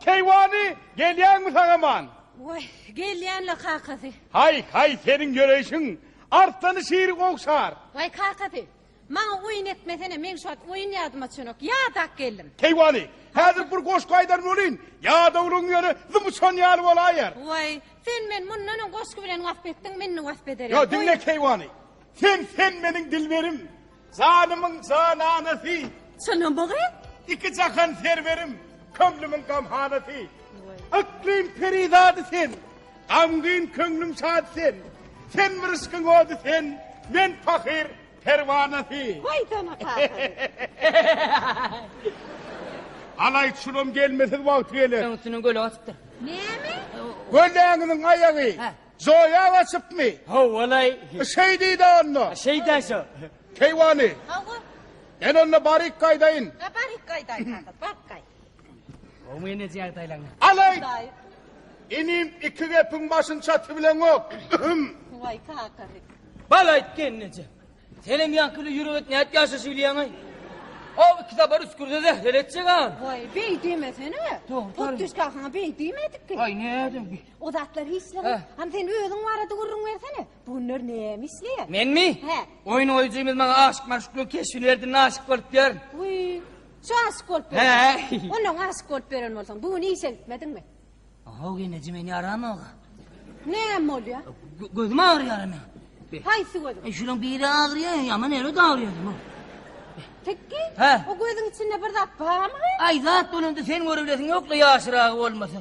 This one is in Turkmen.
Keýwany, gelýäňmi saňa man? Waý, gelýän-le kakasy. Haý, haý, seniň ýöreýşiň arslany şiri ogşar. Waý, kakasy, maňa oýun etmesene, meň şu wagt oýun ýadyma çönok, ýadap geldim. Keýwany, häzir bir goşgy aýdan welin, ýadawlygyň ýöne zym uçan ýaly bolaýýar. Waý, sen meni mundan öň goşgy bilen wasp etdiň, indi wasp ederem. Ýa, diňle, Keýwany, sen, sen meniň dilberim, Janymyň jananasy. Çynam bogy. Iki jahan serwerim, köňlümiň gamhanasy. Yklym perizady sen, gamgyn köňlüm şad sen, sen bir yşkyň ody sen, men pahyr perwanasy. Waý sana kahyr. Alaý çulam gelmesiz wagty geler. Öňüsinden göleg atypdyr. Näme? Gölegiňiň aýagy. Hä. Zoýa gaçypmy? Ho-walaý. Şeýdi-de onda. Şeýdä şo. Keýwany. Hawa. Men onda baryk gaýdaýyn. Ha, baryk gaýdaýyn, hada, baryk gaý. Gowy mene jagdaýlaň. Alaý! Daýy. Inim, iki gepiň başyny çatybileňok. Hüm. Waý, kakaly. Bal aýt, gelneje. Senem ýaňkyly ýürek et, nädip ýaşaşy bilýäň-aý? Haw, iki sapar üskürse zähler etjek-ä. Waý, beý diýmesene. Dogry, dogry. Hut düş kakaňa beý diýmedik-ki. Aý, nädip? O zatlar hiç zat. Hany sen özüň barada gürrüň bersene. Bu günler näme işleýär? Menmi? Hä. Oýun goýujymyz maňa aşyk maşuklygyň keşbini berdinde aşyk bolup ýörün. Wiý. Şu aşyk bolup ýörün. Hä. Ondan aşyk bolup ýören bolsaň, bu gün işe gitmediňmi? Haw geneje meni ýaramag. Näme bolýar? Gözüm agyrýar meniň. Haýsy gözüň? E şunuň biri agyrýar, ýaman ýeri de agyrýar bu. Tekki? Hä. O gözüň içinde bir zat barmy? Aý zat bolanda sen görebilesiň ýok-la ýaşyragy bolmasa.